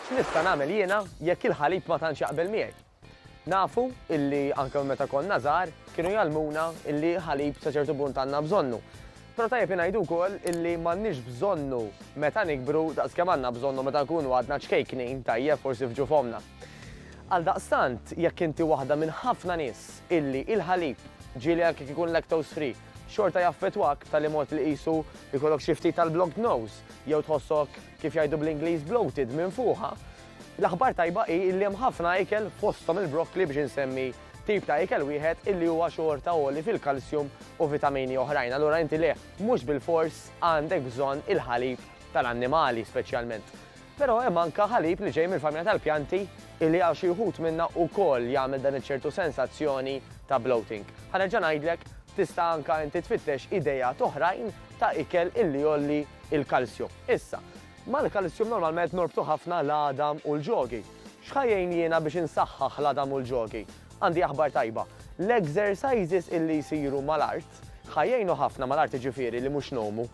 X'nista' nagħmel jiena jekk il-ħalib ma tantx jaqbel miegħi? Nafu illi anke minn meta konna żgħar kienu jgħallmuna illi ħalib sa ċertu punt għandna bżonnu. Però tajjeb ingħidu wkoll illi m'għandniex bżonnu meta nikbru daqs kemm għandna bżonnu meta nkunu għadna ċkejknin, tajjeb, forsi f'ġuf ommna. Għaldaqstant, jekk inti waħda minn ħafna nies illi il-ħalib, ġieli anke jekk ikun lactose free, xorta jaffettwak b'tali mod li qisu jkollok xi ftit tal-blocked nose jew tħossok kif jgħidu bl-Ingliż bloated minn fuqha, L-aħbar tajba hi li hemm ħafna ikel fosthom il-brokkli biex insemmi tip ta' ikel wieħed illi huwa xorta għoli fil-kalsjum u vitamini oħrajn. Allura inti le, mhux bilfors għandek bżonn il-ħalib tal-annimali speċjalment. Però hemm anke ħalib li ġej mill-familja tal-pjanti illi għal xi wħud minna wkoll jagħmel dan iċ-ċertu sensazzjoni ta' bloating. Ħa nerġa' ngħidlek, tista' anke inti tfittex ideat oħrajn ta' ikel illi jgħolli l-kalsjum. Issa, Mal-kalissjum normalment norbtu ħafna l-għadam u l-ġogi. X'ħa jgħin jiena biex insaħħaħ l-għadam u l-ġogi? Għandi aħbar tajba. L-exercises illi jsiru mal-art ħa jgħinu ħafna, mal-art jiġifieri li mhux ngħumu,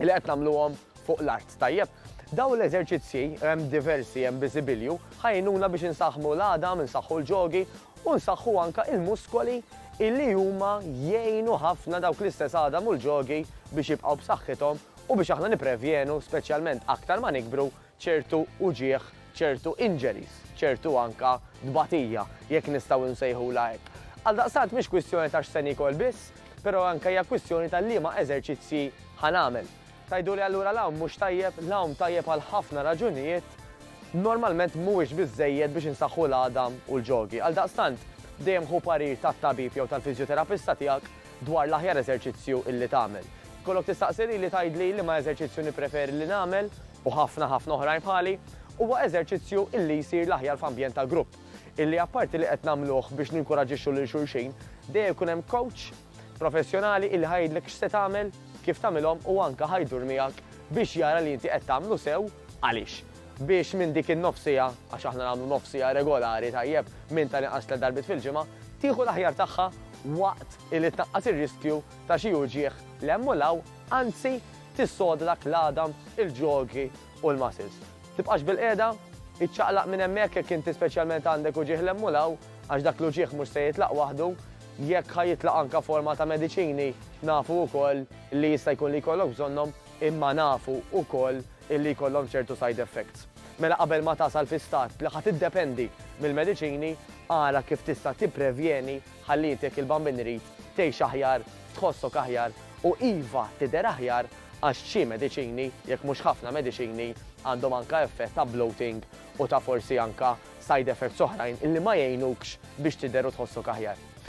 li qed nagħmluhom fuq l-art, tajjeb? Dawn l-eżerċizzji, hemm diversi, hemm biżibilju, ħa jgħinuna biex insaħħmu l-għadam, insaħħu l-ġogi u nsaħħu anke il-muskoli illi huma jgħinu ħafna dawk l-istess għadam u l-ġogi biex jibqgħu b'saħħithom u biex aħna nipprevjenu, speċjalment aktar ma nikbru, ċertu uġigħ, ċertu injuries, ċertu anke tbatija, jekk nistgħu nsejħulha hekk. Għaldaqstant mhix kwistjoni ta' x'se niekol biss, però anke hija kwistjoni ta' liema eżerċizzji ħa nagħmel. Tgħiduli allura l-għawm mhux tajjeb, l-għawm tajjeb għal ħafna raġunijiet, normalment mhuwiex biżżejjed biex insaħħu l-għadam u l-ġogi. Għaldaqstant, dejjem ħu parir tat-tabib jew tal-fiżjoterapista tiegħek dwar l-aħjar eżerċizzju illi tagħmel. Tkollok tistaqsi lili tgħidli liema eżerċizzju nippreferi li nagħmel, u ħafna ħafna oħrajn bħali, huwa eżerċizzju illi jsir l-aħjar f'ambjent ta' grupp, illi apparti li qed nagħmluh biex ninkuraġġixxu lil xulxin, dejjem ikun hemm kowċ professjonali illi ħa jgħidlek x'se tagħmel, kif tagħmilhom u anke ħa jdur miegħek biex jara li inti qed tagħmlu sew, Għaliex? Biex minn dik in-nofsiegħa, għax aħna nagħmlu nofsiegħa regolari tajjeb minn tal-inqas tliet darbiet fil-ġimgħa, tieħu l-aħjar tagħha waqt illi tnaqqas ir-riskju ta' xi uġigħ 'l hemm u 'l hawn, anzi tissodrak l-għadam, il-ġogħgi u l-muscles. Tibqax bilqiegħda, iċċaqlaq minn hemmhekk jekk inti speċjalment għandek uġigħ 'l hemm u 'l hawn, għax dak l-uġigħ mhux se jitlaq waħdu, jekk ħa jitlaq anke forma ta' mediċini nafu wkoll li jista' jkun li jkollok bżonnhom, imma nafu wkoll illi jkollhom ċertu side effects. Mela qabel ma tasal fi stat li ħa tiddependi mill-mediċini, ara kif tista' tipprevjeni ħalli inti jekk il-bambin irid, tgħix aħjar, tħossok aħjar u iva tidher aħjar għax xi mediċini, jekk mhux ħafna mediċini, għandhom anke effett ta' bloating u ta' forsi anke side effects oħrajn illi ma jgħinukx biex tidher u tħossok aħjar.